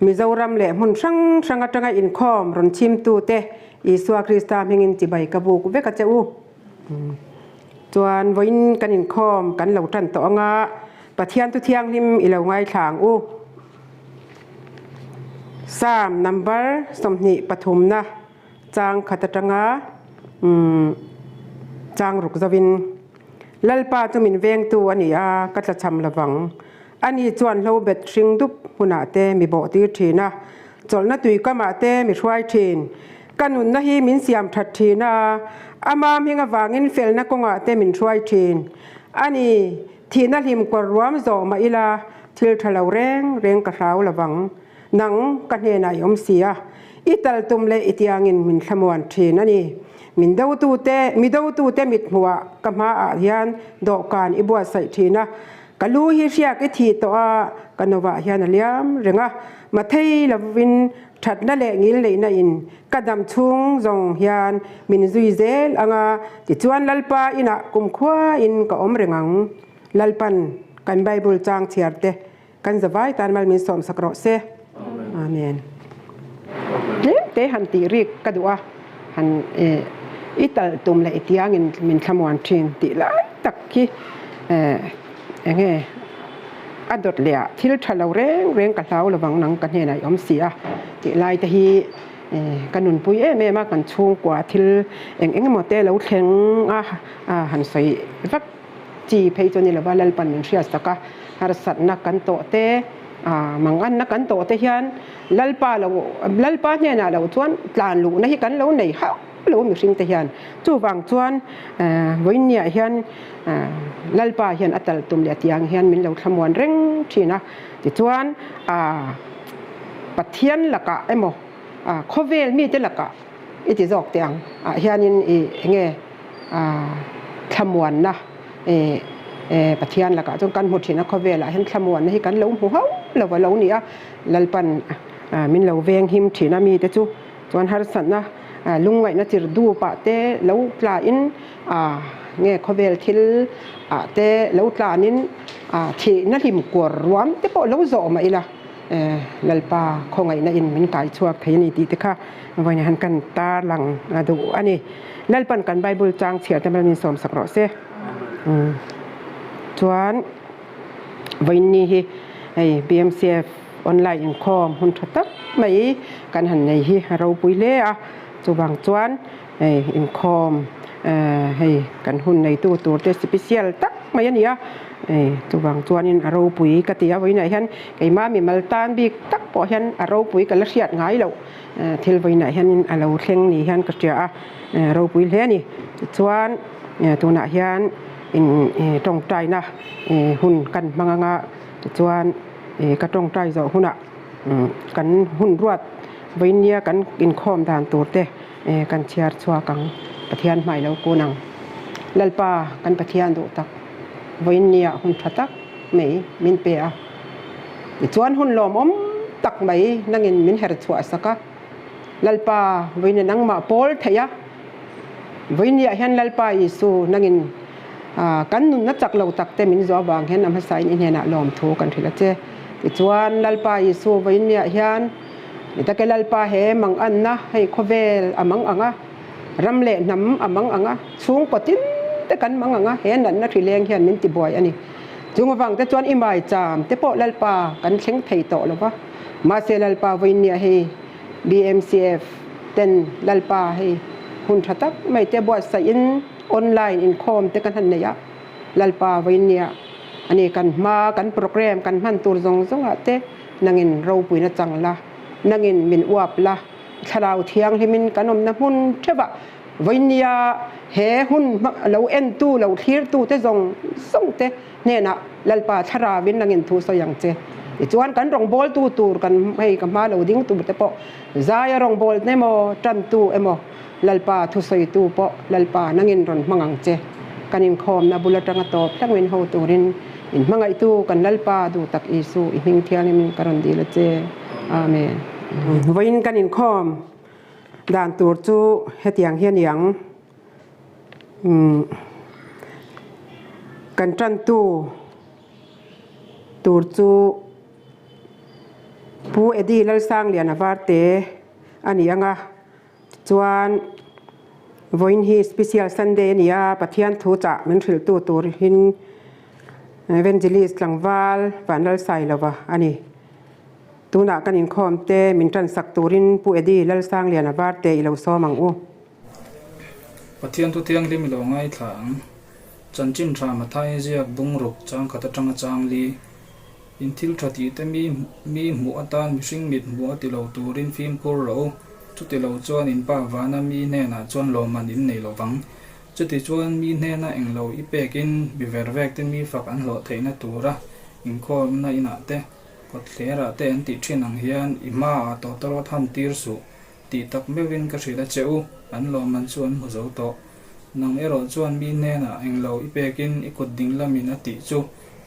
Mizoram leh hmun hrang hrang atanga inkhawm rawn chimtute Isua Krista hmingin chibai ka buk vek a che u. Chuan vawiin kan inkhawm kan lo tan tawh anga Pathiantu thianghlim i lo ngaithlang u. Psalm number sawmhnih pathumna chang khat atanga chang ruk zovin. Lalpa chu min vengtu a ni a, ka tla chham lo vang. Ani chuan hlo bet hring dup hunah te mi bawh tir thin a, chawlhna tui kamah te mi hruai thin. Ka nunna hi min siam that thin a, a mamhing avangin felna kawngah te min hruai thin. Ani thihna hlim kawr ruam zawh mah ila thil tha lo reng reng ka hlau lo vang. Nang ka hnenah i awm si a, i tal tum leh i tiangin min thlamuan thin a ni. Min dotute, mi dotute mithmuhah ka hmaah hian dawhkan i buatsaih thin a, ka lu hi hriak i thih tawh a, ka nova hian a liam reng a, mathei lovin thatna leh ngil neihna in ka dam chhung zawng hian min zui zel ang a, tichuan Lalpa inah kumkhuain ka awm reng ang. Lalpan, kan Bible chang chhiarte. Kan zavai tan mal min sawm sak rawh se. Amen. Tlem te han tih rik ka duh a, han i tal tum leh i tiang in min thlamuan thin tih lai tak hi eng nge a dawt leh a thil tha lo reng reng ka hlau lovang nang ka hnenah i awm si a tih lai te hi ka nunpui em em a kan chhungkua thil eng eng emaw te lo thleng a han sawi vek. Chi phei chu ni lova Lalpa'n min hriat sak a, harsatna kan tawh te, manganna kan tawh te hian Lalpa lo, Lalpa hnenah lo chuan tlan luhna hi kan lo nei hauh lo mihring te hian. Chuvang chuan Vawinia hian Lalpa hian a tal tum leh tiang hian min lo thlamuan reng thin a, tichuan Pathian lakah emaw khawvel mite lakah, I ti zawk teh ang ah hianin i enge thlamuanna Pathian lakah chuan kan hmu thin a khawvel ah hian thlamuanna hi kan lo hmu hauh lo a lo ni a Lalpan min lo veng him thin a mite chu chuan harsatna lungngaihna chirh dup ah te lo tla in nge khawvel thil ah te lo tlan in thihna hlim kuar ruam te pawh lo zawh mah ila. Lalpa khawngaihna in min kai chhuak thei a ni tih te kha vawiin han kan tarlang a duh a ni. Lalpa'n kan Bible chang chhiar te min sawm sak rawh se. Chuan vawiin ni hi hei BMCF online inkhawm hun tha tak mai kan han nei hi a ropui hle a, chuvang chuan. hei inkhawm ehh hei kan hun neitu tur te special tak mai a ni a ehh chuvang chuanin a ropui ka ti a vawiinah hian keimah a mimal tan bik tak pawh hian a ropui ka la hriat ngai loh ehh thil vawiinah hianin a lo thleng ni hian ka hria a ehh ropui hle a ni tichuan ehh tunah hian in ehh tawngtaina ehh hun kan hmang anga tichuan ehh ka tawngtai zawh hunah umm kan hun ruat vawiin nia kan inkhawm dan tur te. Eh kan chhiar chhuak ang, Pathian hma i lo kun ang. Lalpa, kan Pathian duh tak, vawiin ni ah hun tha tak mai min pe a. Tichuan hun lawmawm tak mai nangin min her chhuah sak a. Lalpa, vawiin a nangmah pawl theih a. Vawiin ni ah hian Lalpa Isu nangin kan nunna chak lo tak te min zuah vang hian a hmasa in i hnenah lawmthu kan hrilh a che. Tichuan Lalpa Isu vawiin ni ah hian. I ta ke Lalpa he mang anna hei khawvel a mang ang a, ram leh hnam a mang ang a, chhungkaw tin te kan mang ang a, he natna thrileng hian min tibuai a ni. Chung avangte chuan i maicham te pawh Lalpa kan thleng thei tawh lo va, mahse Lalpa vawinia hei BMCF ten Lalpa hei hun tha tak mai te buatsaih in online inkhawm te ka hna'n neih a, Lalpa vawinia a ni kan hma kan program kan hman tur zawng zawngah te, Nangin ropui na chang la, nangin min uap la, Thlarau Thianghlimin kan awmna hmun theuhah vawinia he hun lo entu, lo thlirtute zawng zawngte hnenah Lalpa Thlaravin nangin thu sawi ang che. Tichuan kan rawngbawltu tur kan hei ka hma lo ding turte pawh zaia rawngbawlna emaw, tantu emaw, Lalpa thusawitu pawh Lalpa nangin rawn hmang ang che. Kan inkhawmna bul atanga tawp hlangin ho turin in hmangaitu kan Lalpa duhtak Isu i hming thiangin ka rawn dil a che. Amen. Vawiin kan inkhawm dan tur chu hetiang hi a ni ang, Kan tantu tur chu Pu Eddie Lalsangliana varte a ni ang a. Tichuan, vawiin hi Special Sunday a ni a, Pathian thu chah min hrilhtu turin Evangelist tlangval van Lalsai lova a ni. Tunah kan inkhawmte min tansak turin Pu Eddie Lalsanglian a var teh i lo sawm ang u. Pathian thu thianghlim i lo ngaithla ang. Chanchin hram a thai ziak bungruk changkhat atanga changli. In thil tha tih te mi mi hmuh atan mihring mit hmu a ti lo turin fimkhur ro. Chuti lo chuan in pa vana mi hnenah chuan lawmman in nei lo vang. Chuti chuan mi hnena eng lo i pekin biver vek te mi fak an hlawh theihna tura inkhawmna inah te, kawtthlerah te an tih thin ang hian i hmaah tawtawrawt han tir suh Tih tak meuhin ka hrilh a che u, an lawmman chu an hmu zo tawh. Nang erawh chuan mi hnenah englo i pekin i kut ding lamin a tih chu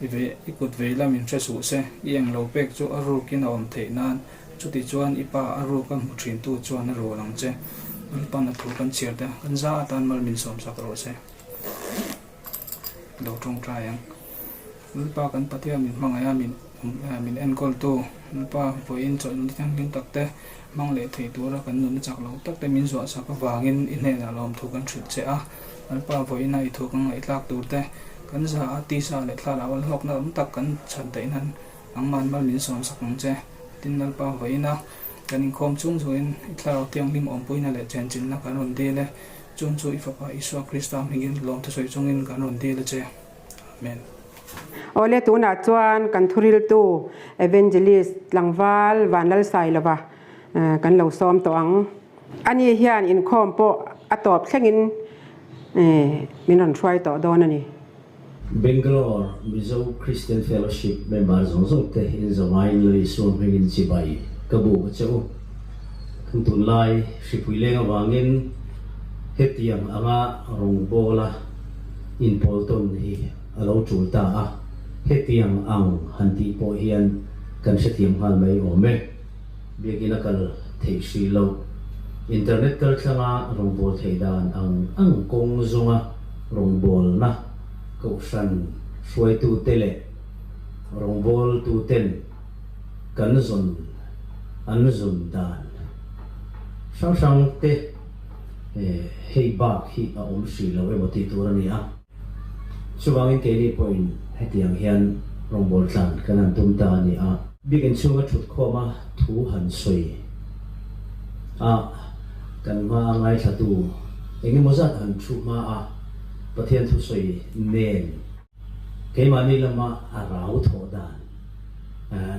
i ve, i kut vei lamin hre suh se. I englo pek chu a rukin a awm theih nan, chutichuan i pa a ruk a hmu thintu chuan a rual ang che. Lalpan a thu kan chhiar tia, kan za atan mal min sawmsak rawh se. Lo tawngtai ang. Nulpa kan patea min hmangaih a, min min enkawltu nulpa vawiin chawlhna thianghlim takte, hmang leh thei tura kan nunna chak lo takte min zawhsak avangin i hnenah lawmthu kan hrilh che a. Nulpa vawiina i thu kan ngaihtlak turte, kan za a tisa leh thla lam alhawkna tam tak kan chhan theih nan engmahni mal min sawnsak ang che. Tin, nulpa vawiina kan inkhawm chung zungin i thlarau thianghlim awmpuina leh chhenchinna kan rawn dil e. Chung chu i Fapa Isua Krista hmingin lawmtha sawi chungin kan rawn dil a che. Amen. Awle tunah chuan kan thuriltu Evangelist tlangval Vanlal Sai lova kan lo sawm tawh ang. Ani hian inkhawm pawh a tawp thlengin min rawn hruai tawh dawn a ni. Bangalore, Mizo Christian Fellowship member zawng zawng te in zongaiin lo insual hming in chibai ka bu ka che u. Kan tunlai hripui leng avangin hetiang anga rawngbawla inpawltawn hi a lo tul ta a, hetiang ang han tih pawh hian kan hrethiam nghal mai awm e. Biakin a kal theih hri lo. Internet kaltlanga rawngbâwl thei dan ang ang kawng zawnga rawngbâwlna kohhran hruaitute leh rawngbâwltuten kan zawn an zun dan hrang hrangte hei bâk hi a awm hri lo emaw tih tur a ni a. Chuvangin keini pawhin hetiang hian rawngbawlh tlan kan han tum ta a ni a. Bikin chhunga thut khawma thu han sawi a, kan hmaa ngaithlatu engemaw zat han thu hma a, Pathian thusawi nen keimahni lama a rau thawh dan.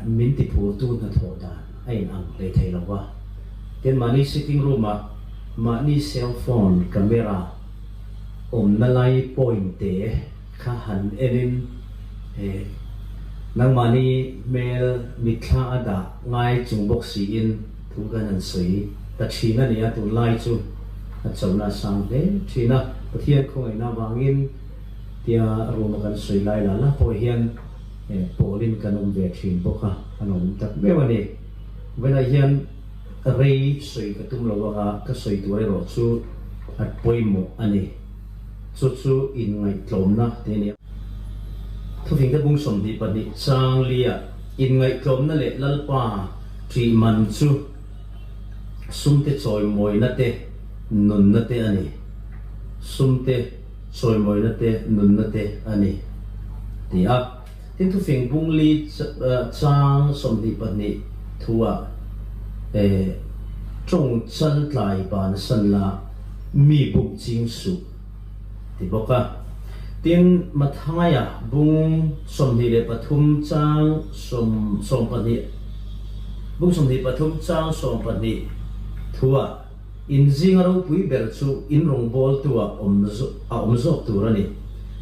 min ti phurtu hnathawh dan a in ang hlei thei lo va, tin mahni sitting room ah mahni cell phone camera awmna lai point te kha han en in he nangmahni hmel mitthla a dah ngai chung bawk si in thu khan han sawi ta thin a nia, tun lai chu a chawlhna a sang hle thin a, Pathian khawngaihna vang in tia room a kan sawi lai la la pawh hian. Eh, Paulin kan awm ve thin bawk a, a nawm tak meuh a ni. Vawilaiah hian rei sawi ka tum lo anga ka sawi tur erawh chu a pawimawh a ni. Chu chu inngaihtlawmna tih a ni a. Thuthleng te bung sawmhnih pahnih changlia inngaihtlawmna leh Lalpa tih man chu sumte chawimawina te, nunna te a ni. Sumte. Sawimawina te nunna te a ni, ti a. Tin, Thufing Bung Li chang sawmhnih pahnih thu ah Tawng Chan tlai ban san la mi buk ching suh, ti bawk a. Tin, Mathaya Bung sawmhnih leh pathum chang sawm sawm pahnih Bung sawmhnih pathum chang sawm pahnih thu ah, In zinga ropui ber chu in rawngbâwl tu ah awm a awm zawk tur a ni.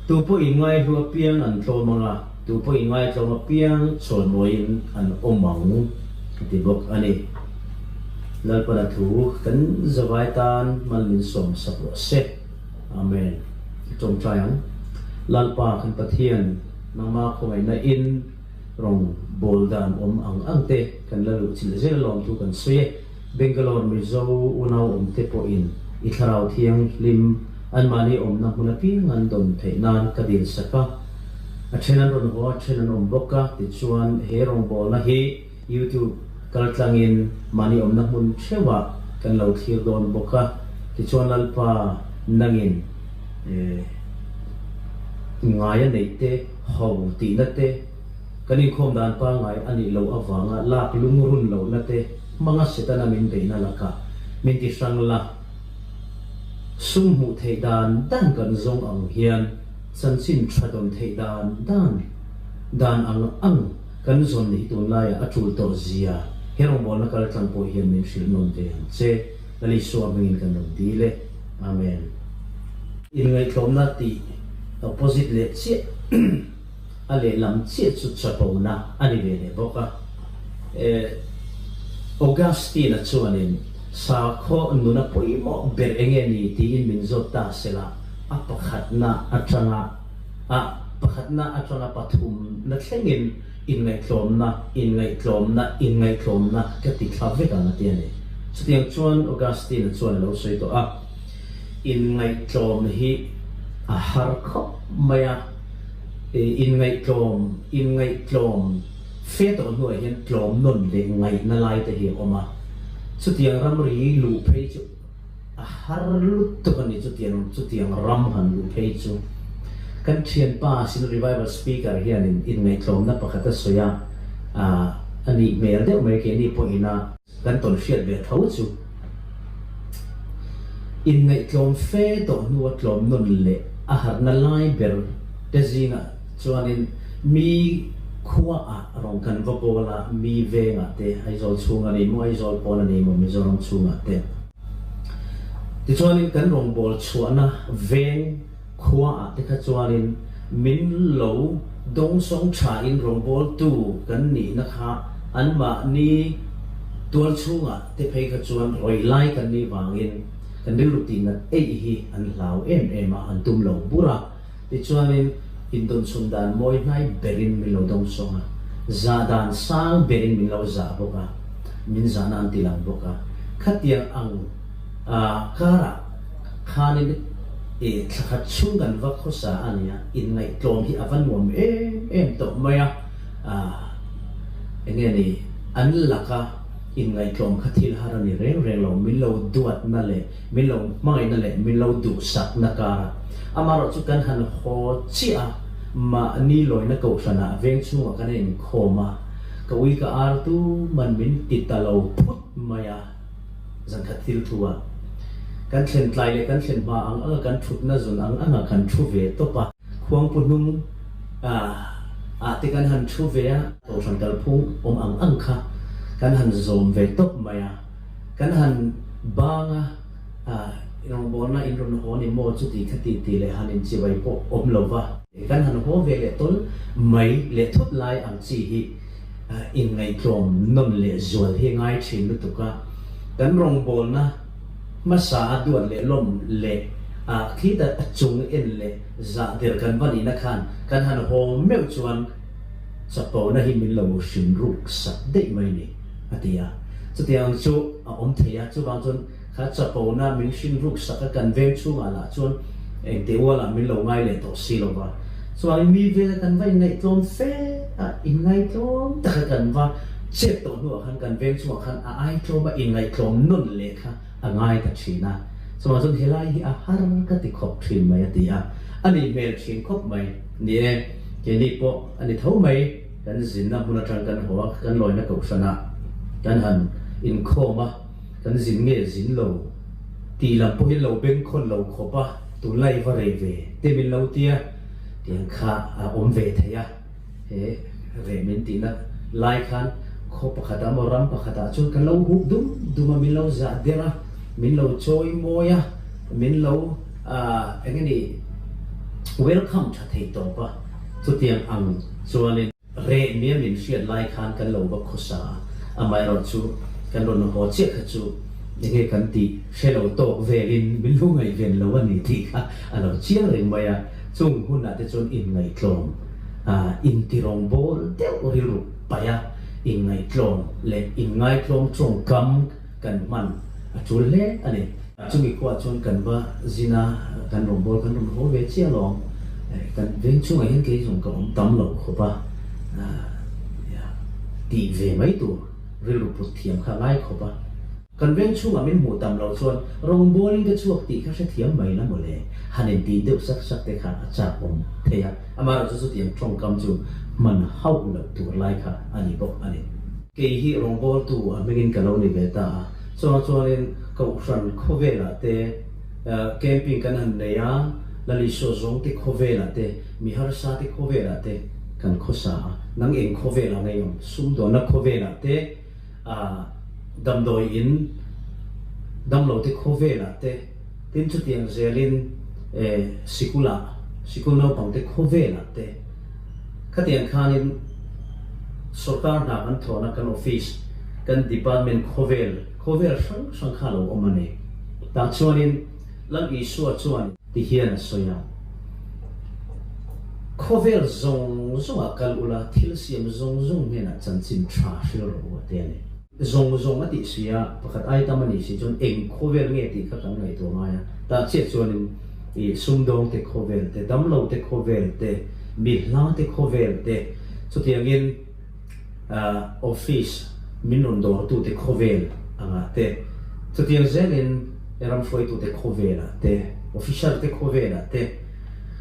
Tu pawh in ngaihlu apiang an tlawm ang a, tu pawh in ngaitlawm apiang chhuan ruai in an awm ang, a ti bawk a ni. Lalpala thu kan zavai tân mal min sawm sak rawh se. Amen. I ṭawngṭai ang. Lalpa kan Pathian, nangma khawngaihna in rawngbâwl dân awm ang angte kan la luhchilh zel alawm thu kan sawi e. Bangalore Mizo unauawmte pawhin i Thlarau Thianghlim anmahni awmna hmuna tling an dawn theih nan ka dil sak a. A then an rawn haw a then an awm bawk a, tichuan he rawngbawlna hi YouTube kaltlangin mahni awmna hmun theuhah kan lo thlir dawn bawk a, tichuan Lalpa nangin eh ngaia neihte haw tihna te, Kan inkhawm dan pangngai a nih loh avanga lak lungrun lohna te hmanga Setana min beihna laka min ti hrang la. Sum hmuh theih dan dan kan zawng ang hian chanchin tha dawn theih dan dan dan ang ang kan zawn nih hi tunlaiah a tul tawh zia he rawngbawlna kal tlang pawh hian min hrilh nawn ve ang che. Lal Isua hmingin kan rawn dil e. Amen. Inngaihtlawmna tih ka posit leh chiah. a lehlam chiah chu chapona a ni ve leh bawk a. Eh, Augustine-a chuanin, Sa khawh nuna pawimawh ber eng nge ni? tiin min zawt ta se la, a pakhatna atanga, a pakhatna atanga pathum na thlengin inngaihtlawmna, inngaihtlawmna, inngaihtlawmna ka ti thla vek ang a ti a ni. Chutiang chuan Augustine-a chuan a lo sawi tawh a, Inngaihtlawm hi a har khawp mai a. In ngaihtlawm, in ngaihtlawm, fe tawh hnuah hian tlawm nawn leh ngaihna lai te hi a awm a, chutiang ram ri luh phei chu a har lut tuk a ni, chutiang chutiang ram han luh phei chu. Kan thianpa sin Revival Speaker hianin in ngaihtlawmna pakhat a sawi a, a nih hmel deuh mai ke ni pawhin a, Kan tawn hriat ve tho chu. Inngaihtlawm fe tawh hnua tlawm nun leh a harhna lai ber te zingah chuanin mi khuaah rawn kan va kawl a, mi vengah te, Aizawl chhung a nei maw, Aizawl pawn a nei maw, Mizoram chhungah te. Tichuanin kan rawn bawlchhuahna veng. Khua ah te kha chuan in min lo dawng sawng tha in rawngbawl tu kan nih na kha an mah ni tual chhung ah te phei kha chuan rawi lai kan nih vang in kan rilru ti nat eih hi an hlau em em a, an tum lo bur a, ti chuan in indawn chhun dan mawi hnai ber in min lo dawng sawng a, zah dan sang ber in min lo zah bawk a, min zah na an ti lang bawk a, khatiang ang. A karah khanin i thla khat chhung kan va khawsa a nia, inngaihtlawm hi a va nuam em em tawh mai a, eng nge ni, an laka inngaihtlawm kha thil har a ni reng reng lo, min lo duatna leh min lo hmangaihna leh min lo duhsakna kara, amaherawh chu kan han haw chiah a, mahni lawina kohhranah veng chhungah kan enkhawm a, ka ui ka artu man min ti ta lo phut mai a. Zankhat thil thu ah kan thlen tlai leh kan thlen hma ang anga kan thutna zun ang anga kan thu ve tawp a. Khuang pu hnung ah te kan han thu ve a. Tawlhran kalphung awm ang ang kha kan han zawm ve tawp mai a. Kan han bang a rawngbawlna in rawn haw ni maw chuti kha titi leh han inchibai pawh awm lo va. Kan han haw ve leh tawn mai leh thut lai ang chi hi inngaihtlawm nawn leh zual hi ngai thin lutuk a, kan rawngbawlna hmasa a duat leh lawmh leh a khita chung en leh zah der kan va nihna khan kan han haw meuh chuan chapona hi min lo hrim ruk sat daih mai ni, a ti a. Chutiang chu a awm thei a, chuvang chuan. Kha chapona min hrin ruk sak a, kan veng chhungah lah chuan engtih ualah min lo ngai leh tawh si lova. Chuanin mi vela kan va inngaihtlawm fe a, inngaihtlawm taka kan va chet tawh hnuah khan kan veng chungah khan a aitlawm a, inngaihtlawm nawn leh kha a ngai ta thin a. Chumah chuan helai hi a har ka ti khawp thin mai a ti a, a nih hmel thin khawp mai ni e, keini pawh a ni tho mai, kan zinna hmun atang kan haw a, kan lawina kohhranah kan han inkhawm a. kan zin nge zin lo tih lam pawh hin lo ben khawn lo khawp a, tunlai i va rei ve te min lo ti a, tiang kha a awm ve thei a, he reh min tihna lai khan khaw pakhat ah emaw ram pakhat ah chuan kan lo huh dum dum a, min lo zah der a, min lo chawi mawi a, min lo eng nge ni welcome tha thei tawp a, chutiang ang chuan in. Reh miam min hriat lai khan kan lo va khawsa a, amaherawh chu kan rawn haw chiah kha chu enge kan tih hre lo tawk vel in min hlu ngaihven lo a ni tih kha a lo chiang reng mai a, chung hunah te chuan inngaihtlawm a intirawng bawl deuh rilru paih a, inngaihtlawm leh inngai tlawm tawngkam. kan hman a tul hle a ni. Chumi khuaa chuan kan va zin a, kan rawn bawl kan rawn haw ve chiah lo. Kan veng chungah hian kei zawng ka awm tam lo khawp a tih ve mai tur rilru put thiam kha ngai khawp a. Kan veng chungah min hmuh tam lo chuan rawn bawlin ka chhuak tih kha hrethiam mai la mawle, han intih deuh sak sak te kha a chakawm thei a, amaherawhchu chutiang tawngkam chu hman hauh loh tur lai kha a ni bawk a ni. Kei hi rawngbawltu a hmingin ka lo ni ve ta a, chungah chuanin Kohhran khawvelah te camping kan han nei a, Lalisua Zawngte khawvelah te, Miharsate khawvelah te kan khaw sa a, Nangeng khawvelah ngaiawm, Sumdawnna khawvelah te, Damdawiin, Damlote khawvelah te, Tin chutiang zelin e sikula, sikul naupangte khawvelah te khatiang khanin sorkar hna kan thlawhna kan office, kan department khawvel, khawvel hrang hrang kha lo awm a ni. Tah chuanin Lam Isua chuan. Ti hian a sawi a. Khawvel zawng zawngah kal ula thil siam zawng zawng hnenah chanchin tha hrilro a te a ni. Zawng zawng a tih suih a, pakhat ai tam a nih si chuan eng khawvel nge tih kha kan ngaihtuah ngai a, tah chiah chuanin i sumdawng te khawvel te, damlo te khawvel te, mi hla te khawvel te, chutiangin ah office min rawn dawr tu te khawvel angah te, chutiang zelin i ram hruai tu te khawvel ah te, officer te khawvel ah te,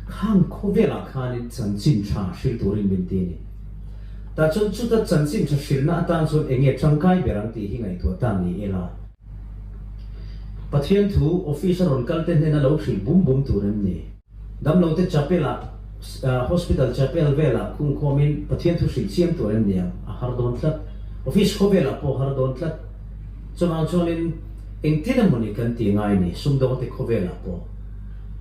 khang khawvel ah khanin chanchin tha hril turin min ti a ni. Tah chuan chuta chanchin tha hrilhna atan chuan eng nge tangkai ber ang tih hi ngaihtuah ta ni ila. Pathian thu office a rawn kalte hnena lo hrilh bum bum tur em ni? Damlote chapel ah, hospital chapel velah khung khawmin Pathian thu hrilh chiam tur em ni ang? A har dawn tlat. Office khawvelah pawh har dawn tlat. Chuvang chuanin engtin emawni kan ti ngai ni sumdawngte khawvelah pawh?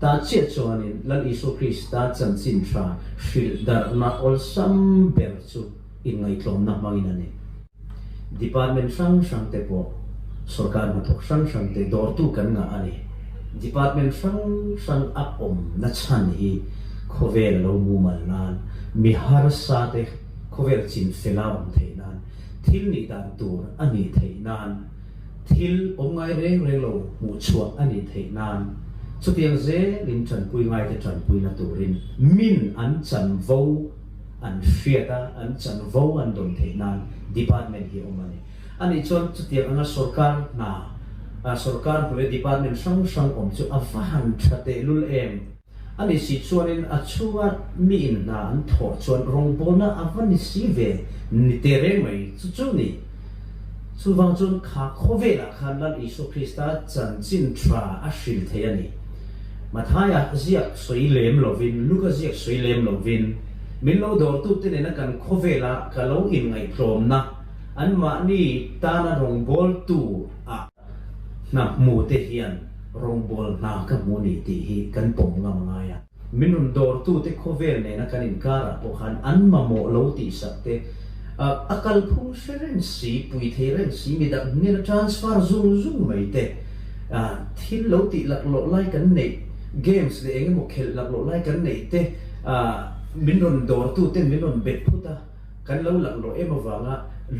Tah chiah chuanin Lal Isua Krista chanchin tha hrilh darhna awlsam ber chu inngaihtlawmna hmangin a ni. Department hrang hrangte pawh sorkar hnathawk hrang hrangte dawrtu kan ngah a ni. Department hrang hrang a awm na chhan hi khawvel lo mumal nan, mi harsate khawvel chin fela awm theih nan, thil nih dan tur a ni theih nan, Thil awm ngai reng reng lo hmuh chhuah a nih theih nan, chutiang zel in tanpui ngai te tanpui na turin min an chanvo an hriat a, an chanvo an dawn theih nan department hi awm a ni. A nih chuan chutiang anga sorkar hna, sorkar hnu leh department hrang hrang awm chu a va han tha tehlul em? A ni si chuanin a chhunga mi in hna an thawh chuan rawngbawlna a va ni si ve ni teh reng mai. Chu chu ni. Chuvang chuan kha khawvelah khan Lam Isua Krista chanchin tha a hrilh theih a ni. Mathaia ziak sawi lem lovin, Luka ziak sawi lem lovin, min lo dawrtute nena kan khawvela ka lo inngaihtlawmna anmahni tana rawngbawltu ah, Hna hmu te hian rawngbawl hna ka hmu ni tih hi kan pawm ngam ngai a. Min rawn dawrtu te khawvel nena kan inkara pawh khan an mamawh lo tihsak te a kalphung hre reng si, pui thei reng si, mi dak hnena transfer zung zung mai te, thil lo tih lak loh lai kan neih, games leh eng emaw khelh lak loh lai kan neih te min rawn dawrtu te min rawn bet phut a. Kan lo lakh lawh em avanga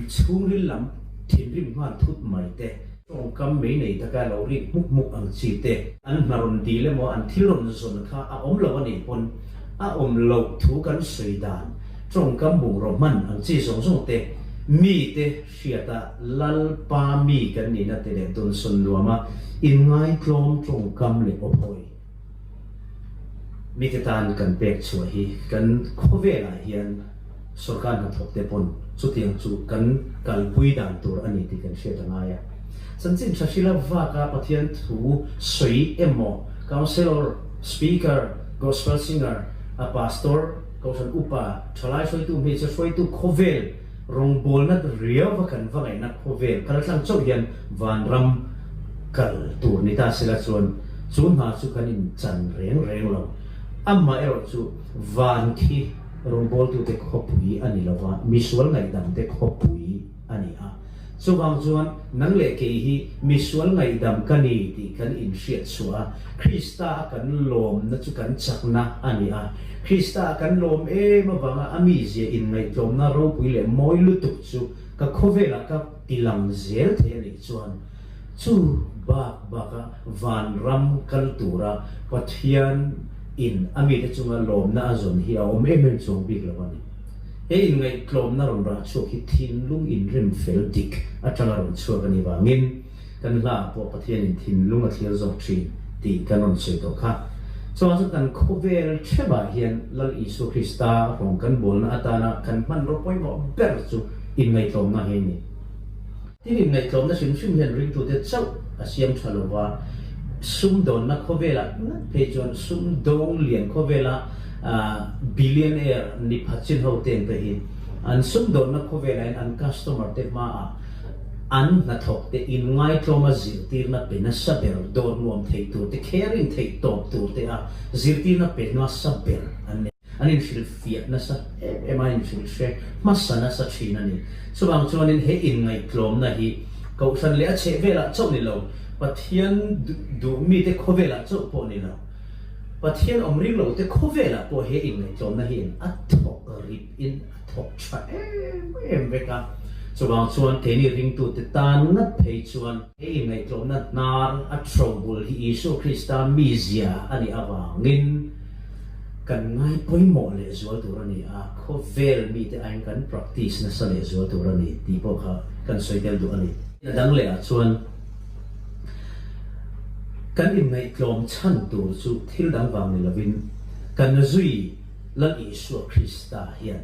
chhungril lam thinrim nghal thut mai te, tawngkam mei nei taka lo rik hmuk hmuk ang chi te, an hna rawn dil emaw an thil rawn zawn kha a awm lo a nih pawn a awm loh thu kan sawi dan, tawngkam bungraw hman ang chi zawng zawng te, mite hriata Lalpa mi kan nihna te leh Dunsawn nuama inngaitlawm tawngkam leh awphawi. Mite tan kan pek chhuah hi kan khawvelah hian sorkar hnathawkte pawn chutiang chu kan kalpui dan tur a ni tih kan hriat a ngai a. Chanchin Hrashila vaka Pathian thu sawi emaw, Councilor, Speaker, Gospel Singer, a Pastor, Kohhran Upa, Thalai hruaitu, Hmeichhe hruaitu, khawvel, Rawngbawlna riau va kan va ngaihna khawvel kal tlang chauh hian vanram kal tur ni ta sela chuan chu hna chu kan in chan reng reng lo. Amah erawh chu van khi rawngbawltute khawpui a ni lova misual ngaihdangte khawpui a ni a. Chuvang chuan, Nang leh kei hi misual ngaihdam ka ni tih kan inhriatchhuah a, Krista a kan lawmna chu kan chakna a ni a. Krista a kan lawm em avanga a mizia inngaihtlawmna ropui leh mawi lutuk chu ka khawvelah ka ti lang zel thei a nih chuan. Chu bak baka vanram kal tura Pathian in a mite chunga lawmna a zawn hi a awm em em chuang bik lo a ni. He inngaihtlawmna rawn rah chhuak hi thinlung inremfel dik atanga rawn chhuak a nih vangin kan hla ah pawh Pathianin thinlung a thlir zawk thin tih kan rawn sawi tawh kha. Chuvang chu kan khawvel thep ah hian Lal Isua Krista hrawng kan bawlna atana kan hman ropawimawh ber chu inngaihtlawmna hi a ni. Hemi ngaihtlawmna hrim hrim hian ringtute chauh a siam tha lo va, sumdawnna khawvela ngat phei chuan sumdawng lian khawvela billionaire nipha chinho ten te hi an sumdawnna khawvela in an customer te hma ah an hnathawk te in ngaihtlawma zirtirna pe nasa ber dawr nuam thei tur te, caring thei tawp tur te a zirtirna pe hnuasa ber an ni. An inhrilhfiah nasa em em a inhrilhfiah hmasa nasa thin a ni. Chuvang chuanin he inngaihtlawmna hi Kohhran leh a chhehvelah chauh ni lo, Pathian duh mite khawvelah chauh pawh ni lo, Pathian awm ring lote khawvelah pawh he inngaihtlawmna hi in a thawk rip in a thawk tha em em vek a. Chuvang chuan keini ringtute tan ngat phei chuan. Hei ngaihtuahna hnar a chho bul hi Isua Krista mizia a nih avangin kan ngai pawimawh leh zual tur a ni a, khawvel mite aiin kan practice nasa leh zual tur a ni tih pawh kha kan sawi tel duh a ni. A dang lehah chuan kan inngaihtlawm chhan tur chu thil dang vang ni lovin kan zui Lal Isua Krista hian,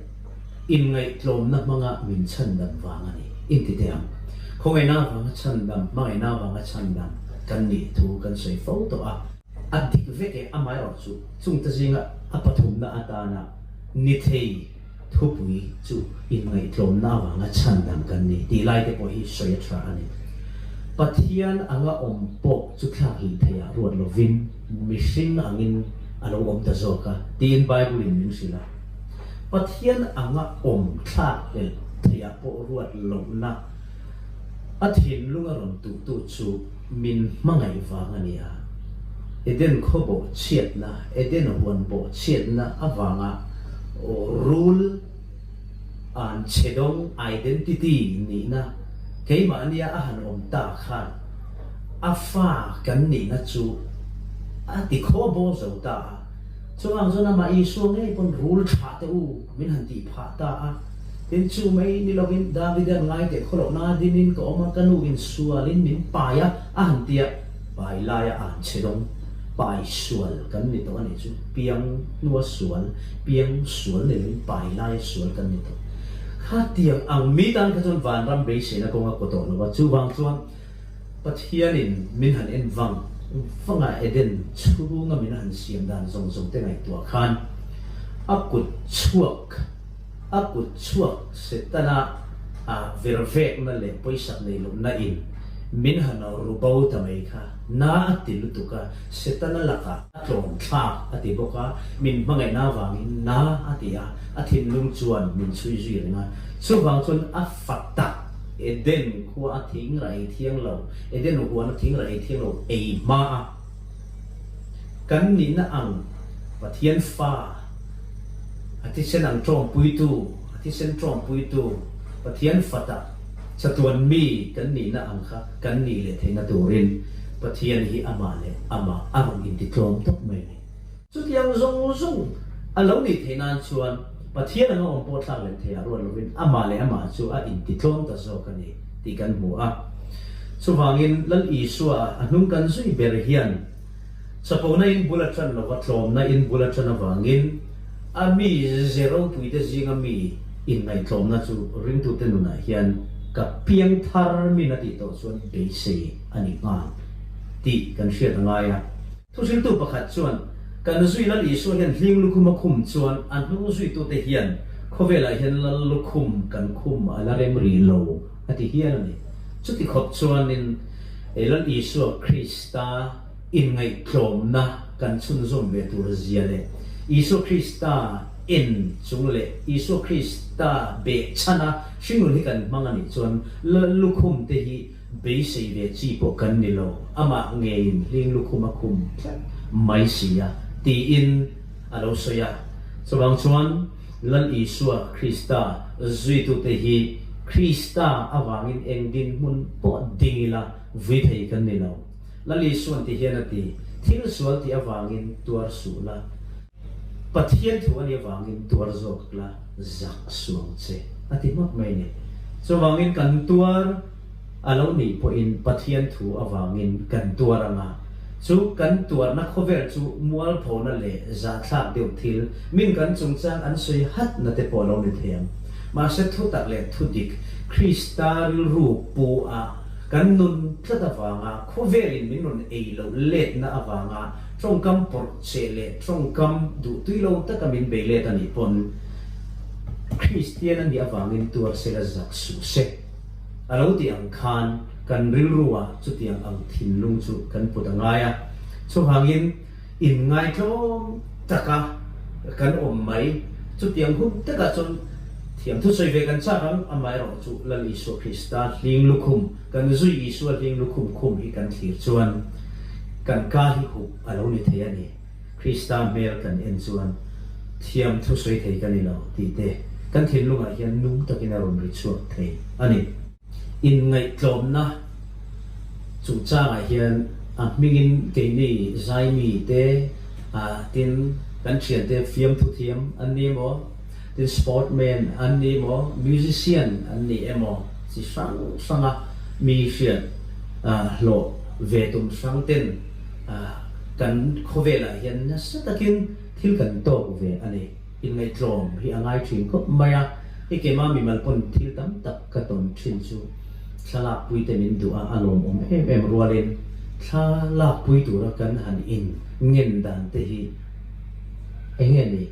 Inngaihtlawmna hmanga min chhandam vang a ni. Intite ang. Khawngaihna avanga chhandam, hmangaihna avanga chhandam kan nih thu kan sawi fo tawh a. A dik veke a mile chu chungte zinga a pathumna atana nithei thupui chu inngaihtlawmna avanga chhandam kan ni tih lai te pawh hi sawi a tha a ni. Pathian anga awm pawh chu thlak hlih theiah ruat lovin mihring angin a lo awm ta zawk a tiin Bible-in min hrilh a. Pathian anga awm thlak leh theiah pawh ruat lohna a thinlung a rawn tuhtu chu min hmangaih vang a ni a. Eden khawbawh chhiatna, Eden huanbawh chhiatna avanga rule an chhedawng, identity, nihna keimahnia a han awm ta khan a fa kan nihna chu a tikhawbawh zo ta a. Chuvang chuan amah Isua ngei pawn rul tha teh u, min han tih phah ta a. Tin, chu mai ni loin Davide an ngaiteh khaw loh nanga dingin ka awm a, ka nu in sual in min pai a, a han ti a. Pa Eli a an che dawng. Pai sual kan ni tawh a nih chu, piang hnua sual, piang sual nei loin pai laia sual kan ni tawh. Khatiang ang mi tan kha chuan vanram beiseina kawnga kaw tawh lo a, chuvang chuan. Pathianin min han en vang vanga Eden chhunga min han siam dan zawng zawng te ngaihtuah khan a kut chhuak a kut chhuak Setana a virvekna leh pawisak nei lomna in min han ru bo ta mai kha na a ti lutuk a, Setana lakah a tlawmthlak a ti bawk a, min hmangaihna vangin na a ti a, a thinlung chuan min chhui zui reng a, chuvang chuan a fat tak. Eden khua a thing rah ei thiang lo, Eden huan a thing rah ei thiang lo ei hma a, kan nih na ang Pathian Fa, a thisen ang ṭawmpuitu, a thisen ṭawmpuitu, Pathian Fata chatuan mi kan nih na ang kha kan nih leh theihna turin Pathian hi amah leh amah a rawn intitlawm tawp mai mai. Chutiang zawng zawng a lo ni theih nan chuan Pathian anga awm pawh thlak lem thei ah ruat lovin amah leh amah chu a intitlawm ta zawk a ni tih kan hmu a. Chuvangin Lal Isua a hnung kan zui ber hian chapona in bul a ṭan lo a, tlawmna in bul a ṭan avangin a mi ze ropuite zinga mi inngaihtlawmna chu ringtute nunah hian ka piang thar min a tih tawh chuan beisei a ni nghal tih kan hriat a ngai a. Thuzirtu pakhat chuan, Ka nu zui Lal Isua hian hling lukhum a khum chuan a hnung zuitute hian khawvelah hian Lal lukhum kan khum a la rem rih lo, a ti hial a ni. Chuti khawp chuanin Lal Isua Krista inngaihtlawmna kan chhunzawm ve tur zia leh Isua Krista en chung leh Isua Krista beh chhana hringnun hi kan hmang a nih chuan Lal lukhumte hi beisei ve chi pawh kan ni lo, amah ngeiin hling lukhum a khum tlat mai si a, tiin a lo sawi a. Chuvang chuan Lal Isua Krista zuitute hi Krista avangin eng dinhmun pawh ding ila vui thei kan ni lo. Lal Isuan tihian a ti, Thil sual tih avangin tuar suh la. Pathian thu a nih avangin tuar zawk la, zak suang che a ti hmak mai ni. Chuvangin kan tuar a lo nih pawhin Pathian thu avangin kan tuar ang a, chu kan tuarna khawvel chu mualphona leh zahthlak deuh thil min kan chungchang an sawi hatna te pawh a lo ni thei ang. Mahse thutak leh thudik Krista rilru pu ah kan nun tlat avanga khawvelin min rawn ei loh letna avanga tawngkam pawrh che leh tawngkam duh tui lo taka min bei let a nih pawn Kristian a nih avangin tuar se la zak suh se a lo tih ang khan kan rilru ah chutiang ang thinlung chu kan put a ngai a. Chuvangin in ngaitlawm taka kan awm mai chutiang hun takah chuan thiam thusawi ve kan chak ang amaherawhchu Lal Isua Krista hling lukhum Kan zui Isua ding lukhum khum hi kan thlir chuan kan ka hi huh a lo ni thei a ni. Krista hmel kan en chuan thiam thu sawi thei ka ni lo tihte kan thinlungah hian nung takin a rawn ri chhuak thei a ni. Inngaihtlawmna chung changah hian a hmingin keini zaimite ah tin kan thiante fiamthu thiam an ni emaw? tin sportman an nih emaw, musician an nih emaw chi hrang hranga mi hriat hlawh ve tum hrang ten kan khawvelah hian nasa takin thil kan tawk ve a ni. Inngaihtlawm hi a ngai thin khawp mai a, i kema mimal pawn thil tam tak ka tawn thin chu thlalakpuite min duh a a lawmawm em em rualin thlalakpui tura kan han in ngen dan te hi enge ni?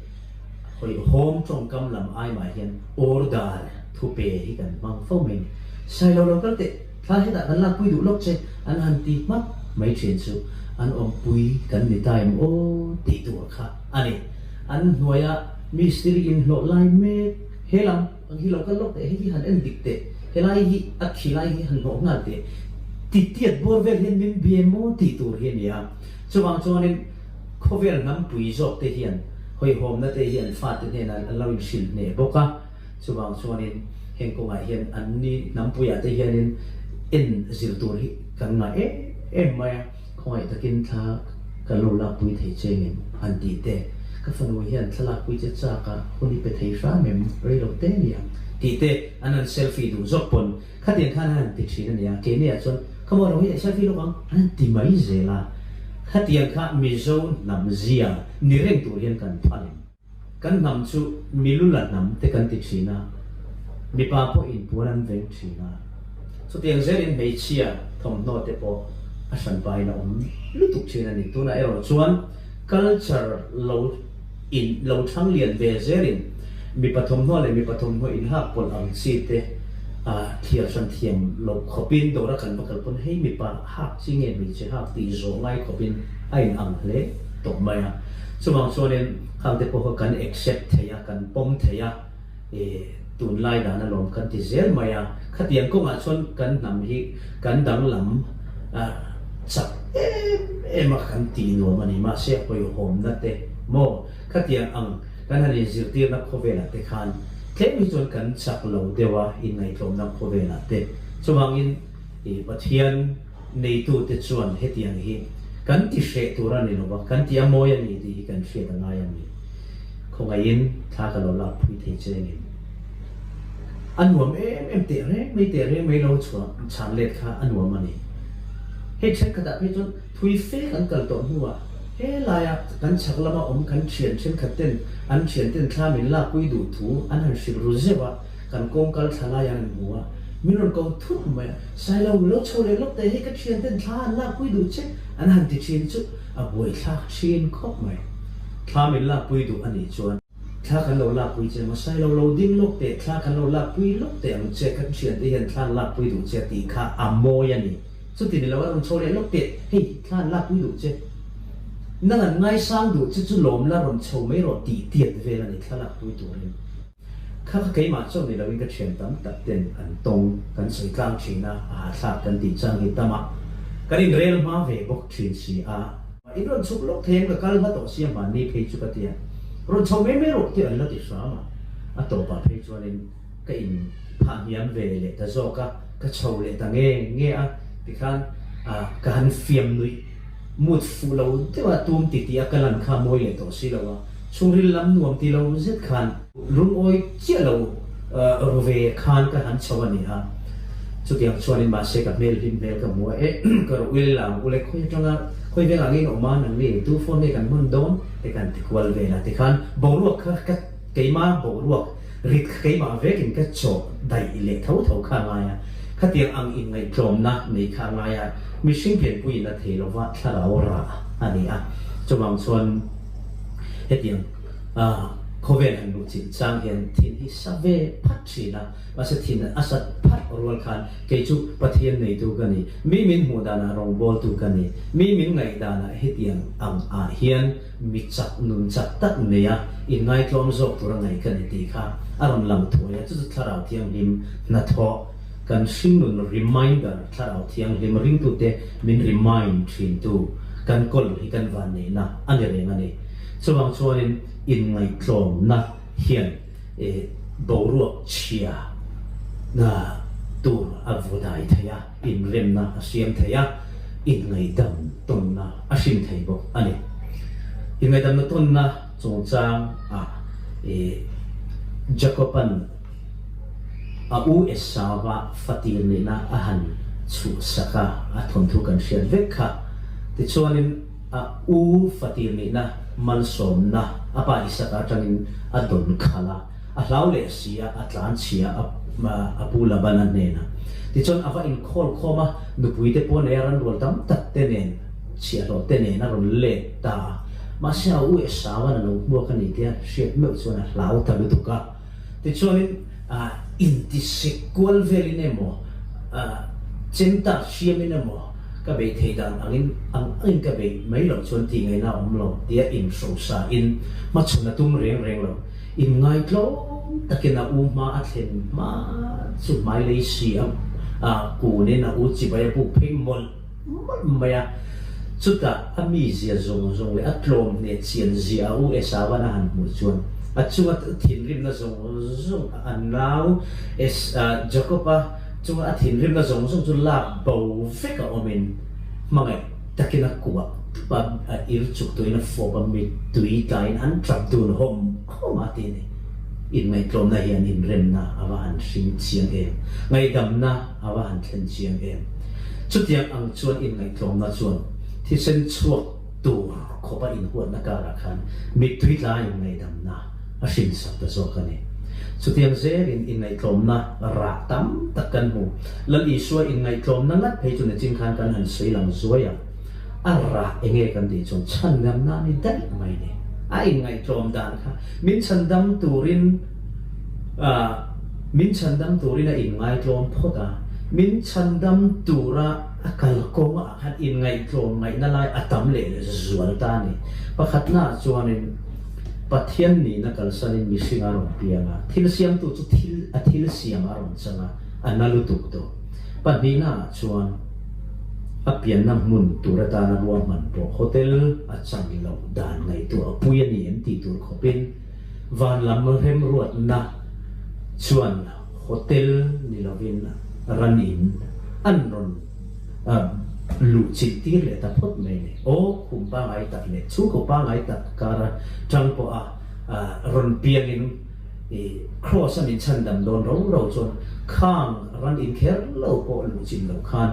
Home tawngkam lam aimah hian order thu pe hi kan hmang fo mai ni. Sai lo lo kal teh, thla hetah kan lak pui duh lawk che an han ti hmak mai thin chu an awm pui kan ni ta em aw tih tur kha a ni. An hnuaia Mistiri in hlawh lai mek he lam ang hi lo kal lawk teh, heti han en dik teh, helai hi a thi lai hi han hlawh nghal teh, titiat bawr vel hian min bia emaw tih tur hi a ni a. Chuvang chuanin. Khawvel hnam pui zawk te hian hawihhawmna te hi an fate hnena an lo inhrilh hneh bawk a, chuvang chuanin heng kawngah hian an ni hnam puiah te hianin en zir tur hi kan ngaih em em mai a, khawngaih takin thla kan lo lakpui thei che ngem an tih te, ka fanu hian thla lakpui che chakah hun i pe thei hram em, rei lo te nia tih te an han selfie duh zawk pawn. Khatiang khan a han ti thin a nia, kei maiah chuan ka mawh lo hi leh selfie lawk ang a han ti mai zel a, khatiang kha Mizo hnam zia ni reng tur hian kan phal em? Kan hnam chu Milula hnam te kan ti thin a, mipa pawh inpuan an veng thin a, chutiang zel in hmeichhia thawmhnaw te pawh a hran pain a awm lutuk thin a ni, tunah erawh chuan culture lo. in lo thlang lian ve zel in mipa thawmhnaw leh mipa thawmhnaw in lak pawlh ang chi te ah thliar hran thiam loh khawp in dawr a kan va kal pawn hei mipa hak chi nge hmeichhe hak tih zawh ngai khawp in a in ang hle tawh mai a chuvang chuan in khangte pawh kan accept thei a kan pawm thei a. E, tunlai dana lawm kan ti zel mai a, khatiang kawngah chuan kan hnam hi kan danglam a chak em em a kan tih nuam a ni. Mahse, hawihhawmna te maw, khatiang ang kan han inzirtirna khawvelah te khan tlem hi chuan kan chak lo deuh a, inngaihtlawmna khawvelah te chuvangin e, Pathian. Neitute chuan hetiang hi kan ti hreh tur a ni lo va, kan ti a mawi a ni tih hi kan hriat a ngai a ni. Khawngaihin thla ka lo lak phui thei chengin a nuam em em teh reng mai teh reng mai lo chhuah chhan let kha a nuam a ni. Hei thenkhatah phei chuan thui fe kan kal tawh hnuah helaia kan chhak lama awm kan thian thenkhat ten an thian ten thla min lak pui duh thu an han hrilh ru zeuh a, kan kawng kal thla lai a rawn hmu a, min rawn ko thut mai a, Sailo mi lo chho leh lawk teh hi ka thian ten thla an lak pui duh che an han ti thin chu a buai thlak thin khawp mai, thla min lak pui duh a nih chuan thla kan lo lak pui che maw, Sailo lo ding lawk teh thla kan lo lak pui lawk teh ang che kan thian te hian thla an lak pui duh che tih kha a mawi a ni, chuti ni lo a rawn chho leh lawk teh hei thla an lak pui duh che nang an ngaisang duh che chu lawm la rawn chho mai rawh tih tiat vel a ni thla lak pui turin. Kha kha keimah chuan ni loin ka thian tam tak ten an tawng kan sawi tlang thin a, a hahthlak kan tih chuan ni tam a kan in rel hma ve bawk thin si a. In rawn chhuk lawk thei em ka kal hla tawh sia hmaan ni phei chu ka ti a, rawn chho mai mai rawh tih an la ti hram a, a tawp ah phei chuan in ka in phah hniam ve leh ta zawk a, ka chho leh ta nge nge a tikhan a ka han fiam nuih. Moods fuh lo deuha tum ti ti a ka lan kha mawi leh tawh si lo a, chhungril lam nuam ti lo zet khan. Rungawi chiah lo ru ve khan ka han chho a ni a, chutiang chuan in mahse ka hmel hlim hmel ka hmu a eh ka rawh u lela ang u le khawi atanga khawi vela ngei in awm a nang ni eitu phone nge kan hman dawn e kan ti kual vel a ti khan boruak kha ka Keimah bohruak rit keimah vekin ka chawh daih leh tho tho kha ngai a, khatiang ang inngaihtlawmna nei kha ngai a, mihring lianpuiin a thei lova thlarau rah a ni a, chuvang chuan hetiang a khawvel han luh chilh chang hian thin hi sa ve phat thin a, mahse thin a sat phat rual khan kei chu Pathian neitu ka ni, mi min hmuh danah rawngbawltu ka ni, mi min ngaih danah hetiang ang ah hian mi chak nun chak tak mai a inngaitlawn zawk tur a ngaih ka ni tih kha a rawn lang thuai a, chu chu Thlarau Thianghlim hnathawh kan hring nun reminder Thlarau Thianghlim ringtute min remind thintu kan kawlh hi kan vanneihna a ni reng a ni. Chuvang chuanin inngaihtlawmna hian boruak chhia tur a vawdai thei a. inremna a siam thei a, inngaidam tawnna a hrim thei bawk a ni. Inngaidamna tawnna chungchang ah i Jakoban a u Esava fatir nihna a han chuhsak a, a thawnthu kan hriat vek kha. Tichuanin a u fatir nihna malsawmna a pa Isak atangin a dawn khalh a. A hlau leh a si a, a tlan chhia a pu Labana hnenah. Tichuan a va inkhawl khawm a, nupuite pawh nei a ranrual tam takte nen, chhiahhlawhte nen a rawn let ta a. Mahse a u Esau-an a lo hmuak a ni tia hriat meuh chuan a hlau ta lutuk a. Tichuanin a intisek kual velin emaw, a chemtah hriamin emaw, ka bei thei dan angin ang angin ka bei mai loh chuan tih ngaihna a awm lo tia inhrosa in hmachhun a tum reng reng lo. In ngai tlawm takin a u hma a thlen hma chu hmailei si a kun in a u chibai a buk phei mawlh mawlh mai a. Chutah a mizia zawng zawng leh a tlawm hne chian zia a u Esauan a han hmuh chuan a chunga thinrimna zawng zawng a a nau. Es Jakoba chunga a thinrimna zawng zawng chu lak bo vek a awm in hmangaih. takin a kuah a a ir chuk tuin a fawp a mit tui tlaiin an tlap dun hawm hawm a ti ani. Inngaihtlawmna hi an inremna a va han hring chiang em, ngaihdamna a va han thlen chiang em. Chutiang ang chuan inngaihtlawmna chuan thisen chhuak tur khawpa inhuatna karah khan mittui tlaiin ngaidamna, a hrinsak ta zawk a ni. Chutiang zelin inngaihtlawmna rah tam tak kan hmu. Lal Isua inngaihtlawmna ngat phei chu niching khan kan han sawi lang zuai a, a rah enge kan tih chuan chhandamna a ni daih mai ni. A inngaihtlawm dan kha min chhandam turin ah min chhandam turin a inngaihtlawm phawt a, min chhandam tura a kal kawngah khan inngaihtlawm ngaihna lai a tam leh leh zual ta a ni. Pakhatnaah chuanin. Pathian nihna kalsanin mihring a rawn piang a, thil siamtu chu thil a thil siam a rawn chang a, a na lutuk tawh. Pahnihna ah chuan a pianna hmun tur atana ruahman pawh hotel a chang loh dan ngaihtuah a pui a ni em tih tur khawpin van lam remruatna chuan hotel ni lovin ran in an rawn a luh chilh tir leh ta phawt mai ni aw khum pangai tak leh chhungkaw pangai tak kara tang pawh a rawn piang in i cross a min chhan dam dawn ro ro chuan khang ran in kher lo pawh luh chilh loh khan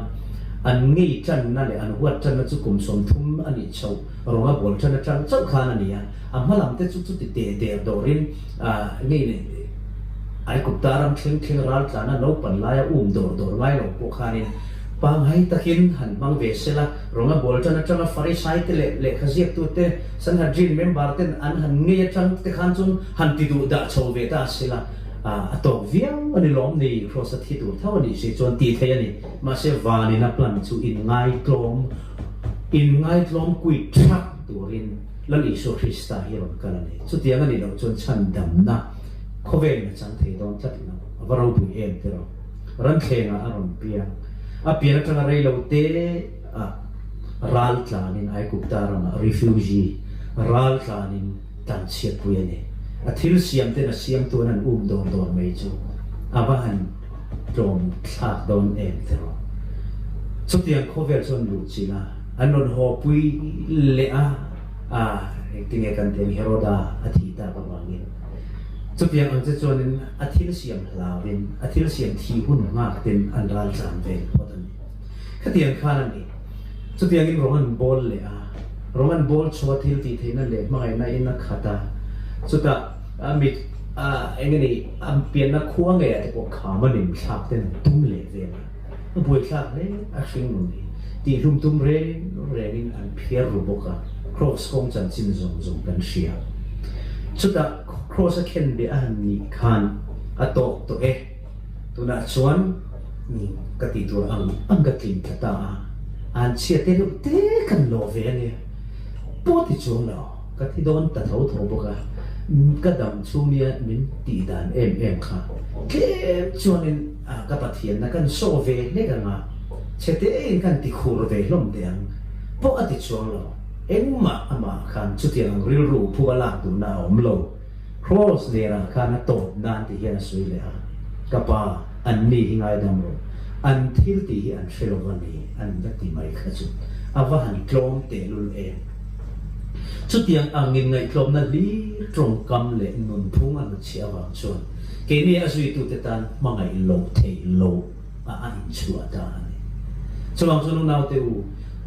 an ngei tan na leh an huat tan na chu kum sawm thum a nih chhoh. Rawnga bual ṭhan aṭang chauh khan a ni a, a hma lam te chu chuti teh der dawrin nge i nih Aikupta ram thleng thleng raltlana naupan laia um dawr dawr ngai lo pawh khanin pangngai takin han hmang ve sel a. Rawnga bual ṭhan aṭanga Farisai te leh lehkha ziaktu te, Sanhedrin member ten an han ngei aṭang te khan chuan han ti duh dah chho ve ta a sela, a tawk viau a ni lawm ni, Kraws a thi tur tho a nih si chuan ti thei a ni. Mahse, vanin a plan chu in ngai tlawm. In ngaitlawm kuih ṭhak turin Lal Isua Krista hi a rawn kal a ni. Chutiang a nih loh chuan chhandamna khawvel in a chang thei dawn tlat lo. A va robuih em tiraw? Ranthlengah a rawn biak. A pian aṭanga rei lo te ah ral tlanin Aigupta ramah, refugee, ral tlanin tlanchhiatpui a ni. A thil siamten a siamtuan an um dawr dawr mai chu a va han. tlawm thlak dawn em teh rawh. Chutiang khawvel chuan luh chin a, an rawn haw pui leh a, ah tinge kan ti ang Heroda a thih tak avangin. Chutiang ang che chuanin a thil siam hlau in, a thil siam thih hun nghak tin an ral tlan vel phawt a ni. Khatiang khan a nih. Chutiangin rawn an bawl leh a, rawn an bawl chhuah thil tih theihna leh hmangaihna in a khat a, chutah a mit a eng a nih a pianna khua ngei ah te pawh kham a nim thlak ten an tum leh vel a, a buaithlak hle a hring nun hi tih hlum tum reng reng in an phiar ru bawk a, Kraws kawng chanchin zawng zawng kan hria. Chutah Kraws a khenbia a han nih khan a tawk tawh e. Tunah chuan ka tih tur ang ang ka tling tla ta a, an chhiat te deuh te kan lawh ve a nia. Pawh ti chuang lo, ka thi dawn ta tho tho bawk a, ka dam chhung i min tih dan em em kha tlem chuang in ka Pathian na kan saw ve hlek ang a, chhete in kan ti khur ve hlawm teh ang pawh a ti chuang lo. Engmah amah khan chutiang ang rilru phu a lak duh na a awm lo. Kraws nerah khan a tawp nan tih hian a sawi leh a, Ka pa, an ni hi ngaidam rawh, an thil tih hi an hre lo va ni, an va ti mai kha chu a va han tlawm tehlul em! Chutiang angin ngaihtlawmna hlir tawngkam leh nunphung a hnutchhiah avang chuan keini a zuitute tan hmangaih lo theih lo. a a inchhuah ta a ni. Chuvang chuan unaute u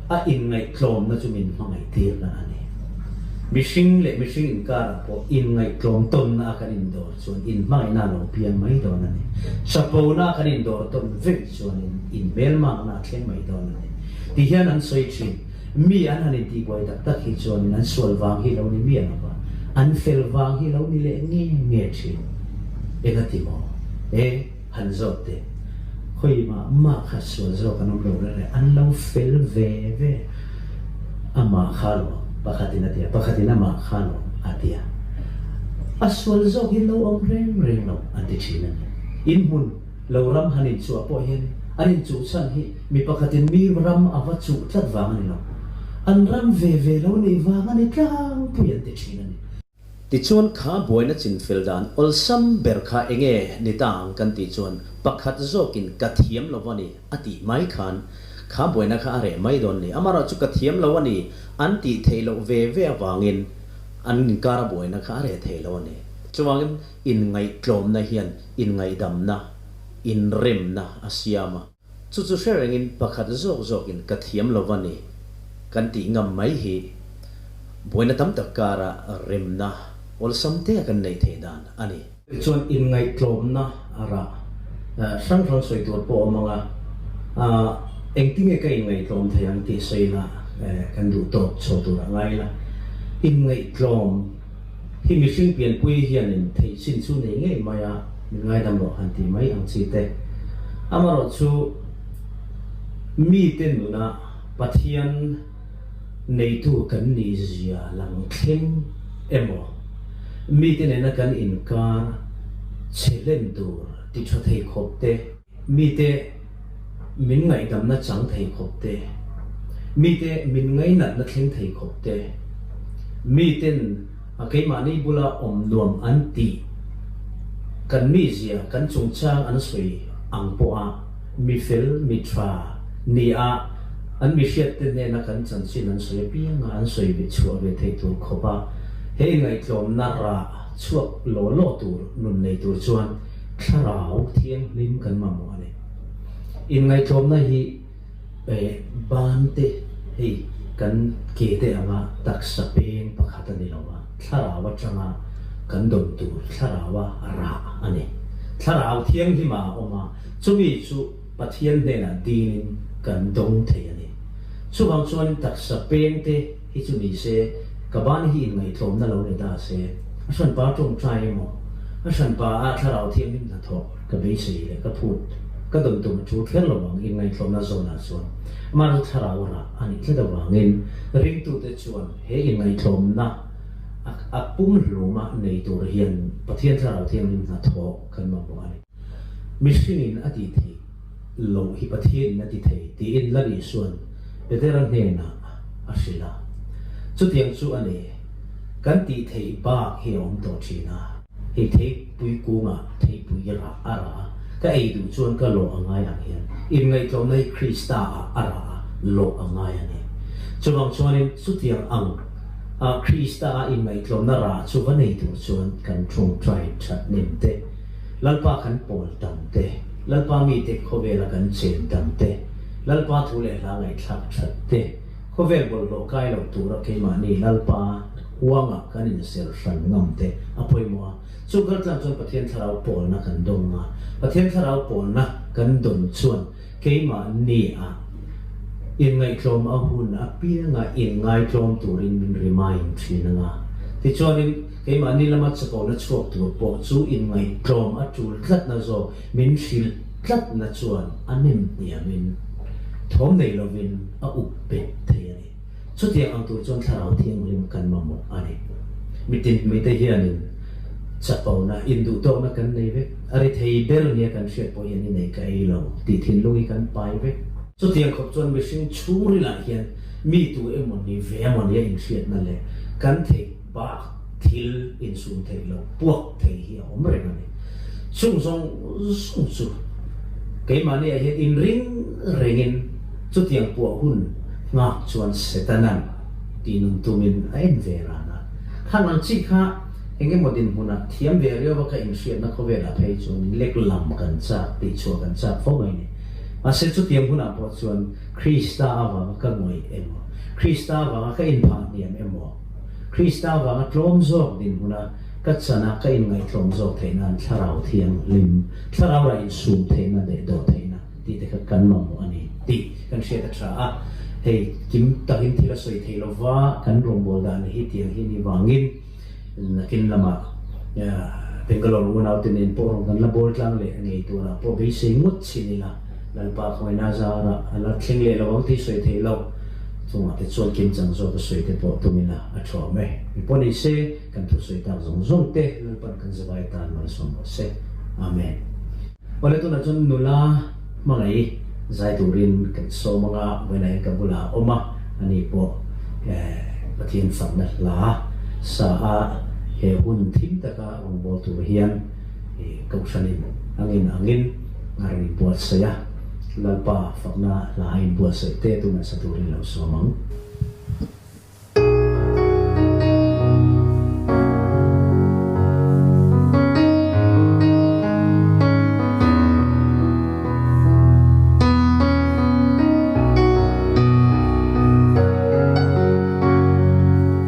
a inngaihtlawmna chu min hmangaihtirna a ni. Mihring leh mihring inkarah pawh inngaihtlawm tawnna a kan indawr chuan inhmangaihna lo piang mai dawn a ni. Hrapona kan indawr tawn vei chuanin inhmel makna a thleng mai dawn a ni, tih hian an sawi thin. Mi an han intihbuai tak tak hi chuanin an sual vang hi lo ni miah lova, an fel vang hi lo ni leh nge nge thin. Eng a ti maw e? han zawt teh. Khawi mah mah kha sual zawk an awm lo reng e, an lo fel ve ve. Amah kha lo, pakhatin a ti a, pakhatin amah kha lo a ti a. A sual zawk hi lo awm reng reng lo an ti thin a ni. Inhmun lo ram han inchuah pawh hian an inchuh chhan hi mi pakhatin mi ram a va chuh tlat vang a ni lo. An ram ve ve lo nih vang a ni tlangpui an ti thin a ni. Tichuan kha buaina chin fel dan awlsam ber kha enge ni ta ang kan tih chuan pakhat zawkin ka thiam lo a ni a tih mai khan kha buaina kha a reh mai dawn ni. Amarawh chu ka thiam lo a ni an tih theih loh ve ve avangin an inkara buaina kha a reh thei lo a ni. Chuvangin inngaihtlawmna hian inngaidamna, inremna a siam a. Chu chu hre rengin pakhat zawk zawkin ka thiam lo a ni kan tih ngam mai hi buaina tam tak kara remna awlsam te a kan nei thei dan a ni. Tichuan inngaihtlawmna a ra hrang hrang sawi tur pawh a mang a, engtinge ka inngaihtlawm thei ang tih sawiin a kan duhtawk chho tur a ngai la, inngaihtlawm. Hi mihring pianpui hianin theih chin chu nei ngei mai a, min ngaidam rawh han ti mai ang chi te. Amarawh chu mite nuna Pathian neitu kan nih zia lang thleng emaw, mite nena kan inkar che hlen tur ti tha thei khawp te, Mite min ngaihdamna chang thei khawp te, mite min ngainatna thleng thei khawp te, miten keimahni bula awm nuam an tih kan mizia kan chungchang an sawi ang pawha mifel mitha nia an mihriatte hnena kan chanchin an sawi apiang a, an sawi ve chhuah ve thei tur khawpa he ngaihtlawmna rah chhuak law law tur nun nei tur chuan. Thlarau thianghlim kan mamawh a ni. Inngaihtlawmna hi bante hei kan ke te anga taksa peng pakhat a ni lo a, thlarau atanga kan dawn tur thlaraua a rah a ni. Thlarau thianghlimah a awm a, chumi chu Pathian hnenah dinin kan dawng thei a ni. Chuvang chuanin taksa pengte. Hi chu ni se, ka ban hi inngaihtlawmna lo ni ta se, a hranpa tawngtai emaw, a hranpa a thlarau thianghlim hna thawh ka beisei leh ka phut ka dawn tum a thu thler lo ang inngaihtlawmna zawnah chuan mah chu thlarau rah a nih tlat avangin ringtute chuan he inngaihtlawmna a pum hlum a nei tur hian Pathian thlarau thianghlim hna thawh kan mamawh a ni. Mihringin a ti thei loh hi Pathianin a ti thei tiin la rihsuan Petera hnenah a hrilh a. Chutiang chu a ni, kan tih theih bak hi a awm tawh thin a. Hei theipui kungah theipui ra a ra a, ka ei duh chuan ka lawh a ngai ang hian inngaihtlawmna hi Krista ah a ra a, lawh a ngai a ni. Chuvang chuanin chutiang ang a Krista a inngaihtlawmna ra chu va nei tur chuan kan ṭhung ṭai ṭhatnem te, Lalpa kan pawl tam te, Lalpa mite khawvela kan chen tam te, Lalpa thu leh hla ngaihthlak that te, khawvel bawlhhlawh kai lo tura keimahni Lalpa huangah kan inser hran ngam te a pawimawh a. Chu galtlang chuan Pathian thlarau pawlna kan dawng a. Pathian thlarau pawlna kan dawn chuan Keimah ni a inngaihtlawm a hun apianga inngaihtlawm turin min remind thin anga, tichuanin keimah ni lama chakona chhuak tur pawh chu inngaihtlawm a tul tlatna zawk min hrilh tlatna chuan a nem hniamin thawm nei lovin a up bet thei a ni. Chutiang ang tur chuan Thlarau Thianghlim kan mamawh a ni. Mitin hmite hianin chapona, induhtawkna kan nei vek. A ri thei ber nia kan hriat pawh hian i nei ka ei lo tih thinlung hi kan pai vek. Chutiang khawp chuan mihring chhungril ah hian mitu emaw ni ve emaw nia inhriatna leh kan theih. Bak thil insum theih lo puak thei hi a awm reng a ni. Chung zawng zawng chu keimahniah hian inring rengin chutiang puah hun nghak chuan Setanan tih nun tumin a en ve ran a. Hlan ang chi kha eng emaw dinhmun ah thiam ve riau vaka inhriatna khawvel ah phei chuan in lek lam kan chak, tih chhuah kan chak fo mai ni. Mahse chutiang hun ah pawh chuan Krista avanga ka ngawih emaw, Krista avanga ka inphah hniam emaw, Krista vanga tlawm zawk dinhmuna ka chanah ka inngaihtlawm zawk theihna'n Thlarau Thianghlim, Thlarau lah insum theihna, daihdaw theihna tih te kha kan mamawh a ni tih kan hriat a tha a. Hei kim takin thil a sawi theih lova kan rawngbawl dan ni hi tiang hi ni vangin nakin lamah Bangalore unaute nen pawh rawn kan la bawl tlang leh ngei tunah pawh beisei ngut chin ila. Lalpa khawina zara a la thleng leh lo ang tih sawi theih loh chungah te chuan kim chang zawk a sawi te pawh tumin a a thu awm e. Mi pawh ni se, kan thu sawi tak zawng zawng te Lalpa'n kan zavai tan malsawm rawh se. Amen. Awle tunah chuan nula hmangaih zai turin kan sawm anga vawiinahin ka bulah a awm a, a ni pawh Pathian famna hla sa a he hun thim taka rawngbawltur hian, i Kohhranin a ngin ang in a rawn buatsaih a, Lalpa fakna hla a inbuatsaih te tu nasa tur in lo suam ang.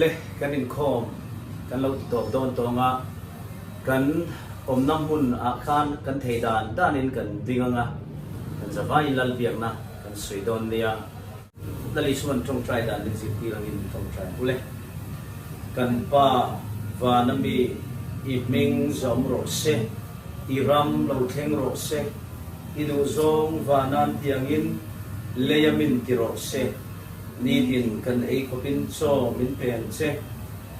Le kan inkhawm kan lo ti tawp dawn tawng a, kan awmna hmun ah khan kan thei dan dan in kan ding ang a, kan za vai in lal biak na kan sawi dawn nia. Lali chuan tawngtai dan in zirtir ang in tawngtai ang ule, kan pa vana mi i hming zawm rawh se, i ram lo thleng rawh se, i duhzawng vanan tiang in lei a min ti rawh se. Nitin kan ei khawpin chaw min pen che.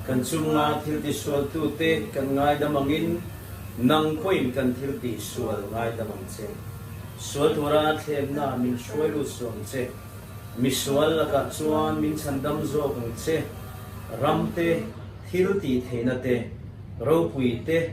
Kan chunga thilti sualtute kan ngaidam angin nang pawhin kan thilti sual ngaidam ang che. Sual tura thlennaah min hruai lut suam che. Misual lakah chuan min chhandam zawk ang che. Ramte, thiltih theihna te, ropui te,